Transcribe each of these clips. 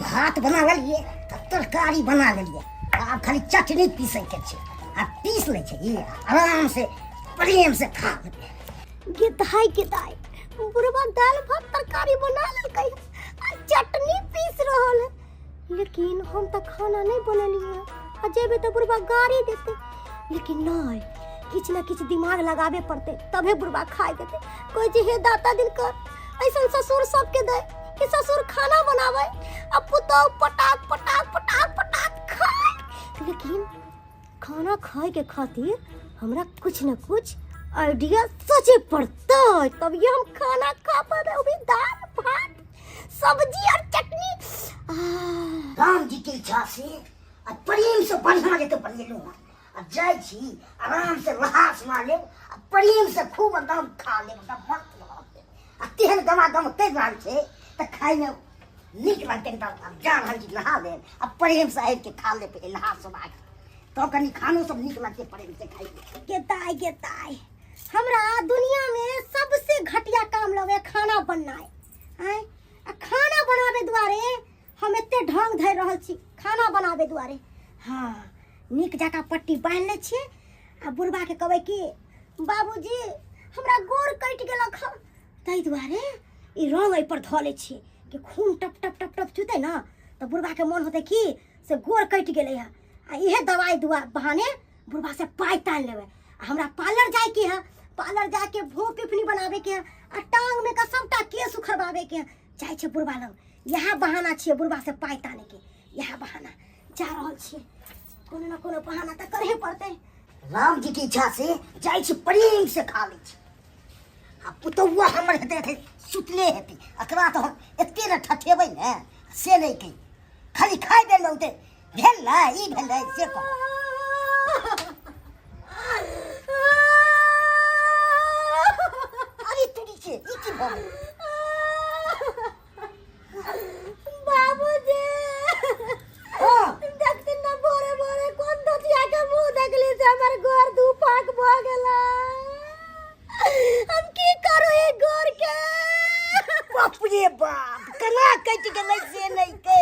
भात बना लेलिए आ तरकारी बना लेलिए आब खाली चटनी पीसे के छै आ पीस ले छै ई आराम से प्रेम से खा लेबै गेदाय गेदाय बुढ़वा दाल भात तरकारी बना लेलकै आ चटनी पीस रहल है लेकिन हम तऽ खाना नहि बनेलियै आ जेबै तऽ बुढ़बा गाड़ी देतै लेकिन नहि किछु ने किछु दिमाग लगाबे पड़तै तबे बुढ़बा खाए देतै कोइ जे हे दाता दिन कर ऐसन ससुर सबके दे कि ससुर खाना बनाबै आ पुतोह पटाक पटाक पटाक पटाक खाए लेकिन खाना खाएके खातिर हमरा कुछ न कुछ आइडिया सोचे पड़तै तब ये हम खाना खा पाबै अभी दाल भात सब्जी और चटनी आह, राम जी के इच्छा से आ प्रेम से बढ़िया जते बनेलू हँ आ जाइ छी आराम से लहास मार लेब आ प्रेम से खूब एकदम खा लेब एकदम मस्त भऽ लेब आ तेहन गमा गम कहि रहल छै तऽ खाइमे नीक लगतै एकदम आब जा रहल छी नहा लेब आ प्रेम से आबि के खा लेब लहास मार तब कनि खानो सब नीक लगतै प्रेम से खाइ के ताय के ताय हमरा दुनिया में सबसे घटिया काम लगे खाना बनाए आय आ खाना बनावे दुआरे हम एते ढंग धर रहल छी खाना बनावे दुआरे हाँ नीक जका पट्टी बांध ले छिए आ बुढ़बा के कहबै कि बाबूजी हमरा गोर कटि गेलक हँ ताहि दुआरे ई रंग एहि पर धऽ लै छिए कि खून टप टप टप टप चुतै ने तऽ बुढ़बा के मोन होतै कि से गोर कटि गेलै हँ आ इहे दवाइ दुआ बहाने बुढ़वा से पाई तान लेवे आ हमरा पार्लर जाए के है पार्लर जाके भों पिपनी बनावे के है आ टांग में का सबटा केस उखड़बावे के है जाए छे बुढ़वा लग यह बहाना छे बुढ़वा से पाई ताने के यह बहाना जा रहल छे कोनो ना कोनो बहाना त करहे पड़ते राम जी की इच्छा से जाइ छी प्रेम से खा लै छी आ पुतौआ हमर हेतै हेतै सुतले हेतै एकरा तऽ हम एते ने ठठेबै ने से नहि कही खाली खाइ बेर में उतै भेलै ई भेलै से कह अरे तोरी के ई की भऽ गेल बाबूजी हँ देखते न भोरे भोरे कोन धोतिया के मुंह देखली से हमर गोर दू फाक भ गेला हम की करू ई गोर के बाप रे बाप केना कटि गेलै से नहि के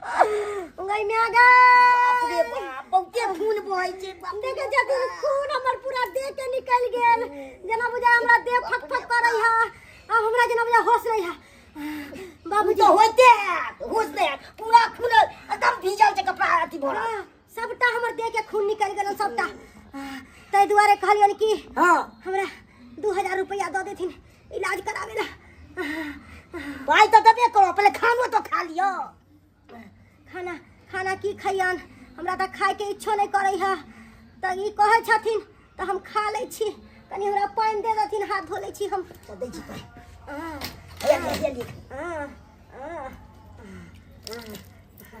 गई में आ बाप रे गई बाप बहुते खून बहै छै बाप रे देखे छथि खून हमर पूरा देह के निकल गेल जेना बुझा हमरा देह फट फट करै है आ हमरा जेना बुझा होश रही है बाबू बाबूजी तो होते है होश नहीं है पूरा खून एकदम भीजल छै कपड़ा अथी भरल सबटा हमर देह के खून निकल गेल सबटा आ, ताहि दुआरे कहलियन कि हाँ हमरा दू हजार रुपया दऽ देथिन इलाज कराबे ला भाई तो देबे करो पहले खानो तो खा लियो खाना खाना की खैयन हमरा तऽ खायके इच्छो नहि करै है तऽ ई कहै छथिन तऽ हम खा लै छी कनि हमरा पानि दे देथिन हाथ धो लै छी हम तो दे जी पाई आ, भैया ले लियो आ, आ, आ, आ,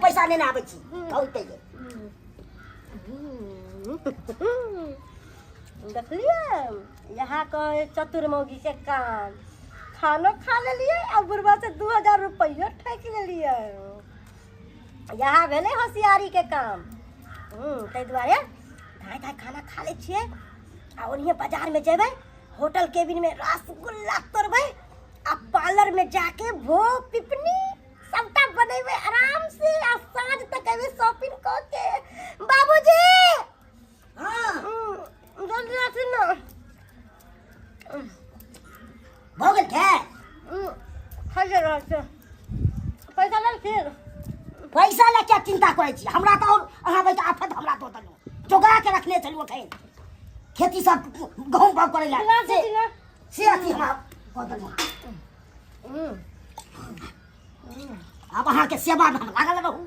पैसा लेने आबै छी कहू तै देखलिए यहाँ कहे चतुर मौगी के काम खानो खा लेलिए आ बुढ़वा से दू हजार रुपया ठेक लेलिए इएह भेलै होशियारीके काम हूँ ताहि दुआरे धाय धाय खाना खा लै छियै आ ओनिहे बाजारमे जेबै होटल केबिनमे रसगुल्ला तोड़बै आ पार्लरमे जाके भो पिपनी सबटा बनेबै आरामसँ आ साँझ तक एबै शॉपिंग कऽ के बाबूजी भऽ गेल खाय खाइए रहल छै पैसा लेल फिर पैसा लए क्या चिंता करै छी हमरा तऽ आओर अहाँ बैठ आफत हमरा दऽ देलहुँ जोगा के रखने छलहुँ एखन खेती सब गहूँम बाग करै लए से से अथी हमरा कऽ देलहुँ आब अहाँके सेवामे हम लागल रहू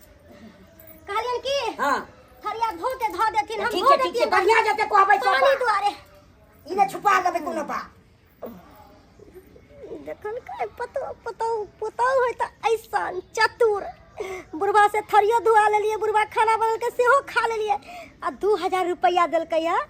कहलियन की हां थरिया धो के धो देथिन हम ठीक धो है ठीक है देथिन बढ़िया जते कहबै सब पानी दुआरे ई ने छुपा लेबै कोनो बात देखल काय पतो पतो पतो होय त ऐसन चतुर बुढ़वा से थरियो धुआ लेलिए बुढ़वा खाना बनल के सेहो खा लेलिए आ दू हजार रुपया देलकै है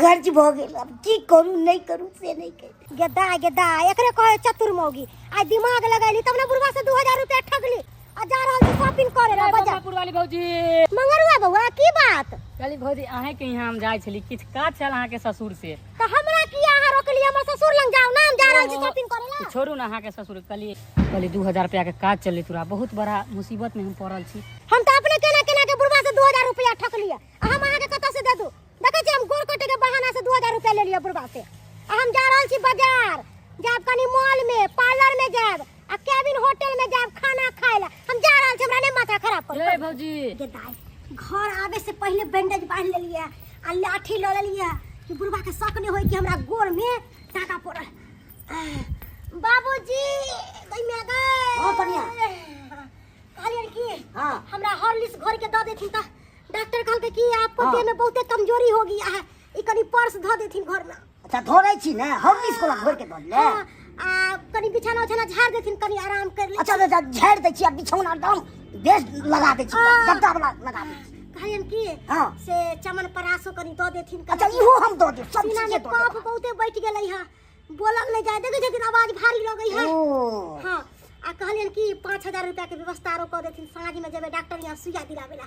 गर्ज भऽ गेल आब की करू नहि करू से नहि करू गेदा गेदा एकरे कहे चतुर मौगी आइ दिमाग लगैली तब ने बुढ़वा से दू हजार रुपया ठगली आ जा रहल छी शॉपिंग करे ला बाजार बाजापुर वाली भौजी मंगरुआ बौआ की बात कहली भौजी अहे के यहाँ हम जाय छली किछ काज छल अहाँ के ससुर से तो हमरा की अहाँ रोकली हमर ससुर लग जाओ ना हम जा रहल छी ओहो। शॉपिंग करे ला छोड़ू ना अहाँ के ससुर कहली कहली दू हजार रुपया के काज चले तोरा बहुत बड़ा मुसीबत में हम पड़ल छी हम तो अपने केना केना के बुढ़वा से दू हजार रुपया ठकली है आ हम अहाँके कतऽ से दे दू देखै छी हम गोड़ कटे के बहाना से दू हजार रुपया ले लिअ बुढ़बा से आ हम जा रहल छी बाजार जायब कनि मॉल में पार्लर में जायब आ केबिन होटल में जायब खाना खाय ला हम जा रहल छी हमरा नहीं माथा खराब कर ए भौजी के दाई घर आवे से पहले बैंडेज बांध लेलिए आ लाठी ल लेलिए कि बुढ़बा के शक नहीं होई कि हमरा गोड़ में टाका पड़ल आह, बाबूजी दई में गए हां कनिया कहलियन कि हां हमरा हॉर्लिक्स घर के द देथिन त डॉक्टर कहलकै कि आपको हाँ। देह में बहुते कमजोरी हो गया है ई कनी पर्स धऽ देथिन घर में अच्छा धोरे छी ने हम किस कोला घोर के धो ले हाँ, आ कनी बिछाना उछाना झाड़ देथिन कनी आराम कर ले अच्छा अच्छा झाड़ दे छी आ बिछौना डाल बेस लगा दे छी हाँ। गद्दा वाला लगा दे छी। कहलियन कि हाँ। से चमन परासो कनी दऽ देथिन कनी। अच्छा इहो हम दो दे सब सीना चीज में दो कफ दे बहुते बैठ गेलै है बोलल नहीं जाए देखे छथिन आवाज भारी लगे है हाँ आ कहलियन कि पाँच हजार रुपया के व्यवस्था आरो कर देथिन साँझ में जेबे डॉक्टर यहाँ सुइया दिलावे ला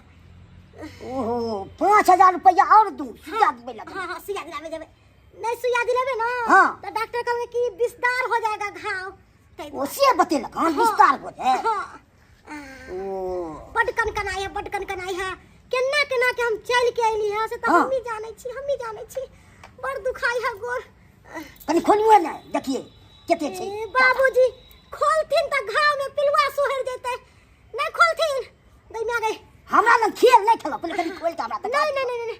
ओहो पाँच हजार रुपया और दू सुइया देबे लगे हाँ हाँ सुइया दिलावे जेबे नहीं सुइया दिलावे ना हाँ। तो डॉक्टर कहलके कि विस्तार हो जाएगा घाव ताहि दुआरे। ओसे बतेलक हाँ विस्तार हो जाए हाँ बड कनकनाई है बड कनकनाई है केना केना के हम चल के आइली है से त हाँ। हम ही जाने छी हम ही जाने छी बड़ दुखाई है गोर कनी खोलुए ना देखिए केते छै ए, बाबूजी खोलथिन त घाव में पिलुआ सोहर जेते नहीं खोलथिन गई में आ गई हमरा लग खेल नहीं खेलो पहले कनी खोल के हमरा तक नहीं नहीं नहीं नहीं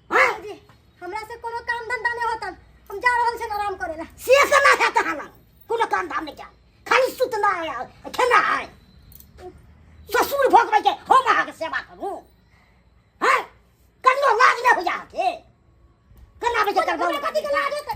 जी हमरा से कोनो काम धंधा नहीं होता हम जा रहल छन आराम करे ला से से ना था तहना कोनो काम धाम नहीं जा खाली सुतना है और खेना है ससुर भोगबै के हम अहाँ के सेवा करू हैं कनियो लाज नहीं हो जा के कना बजे करबो कथि के लाज होतै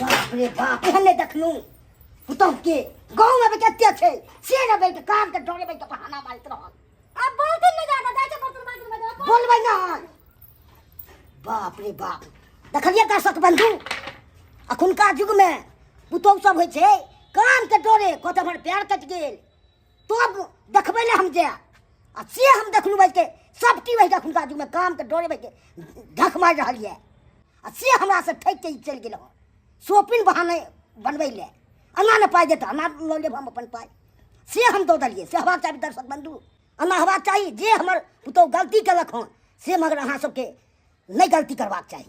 बाप रे बाप एहन नहि देखलहुँ पुतहु के गाँव में कते छै से ने बैठ कान के डरे बैठ बहाना मारैत रहल अब बोलते नहीं जाता जाए छे बर्तन मांजे में जाओ बोलबै नहि बाप रे बाप देखलियै दर्शक बंधु अखुनका युग में पुतहु सब होइ छै कान के डरे कत हमर पैर कटि गेल तब देखबै ले हम जाय आ से हम देखलहुँ बैठ के सब टी बैठ अखुनका युग में काम के डरे बैठ के ढक मारि रहल यऽ आ से हमरासँ ठकि कऽ ई चलि गेल हँ शॉपिंग बहाने बनबै लए एना ने पाइ देतै एना लऽ लेब हम अपन पाइ से हम दऽ देलियै से हेबाक चाही दर्शक बंधु एना हेबाक चाही जे हमर पुतहु गलती केलक हँ से मगर अहाँ सभके नहि गलती करबाक चाही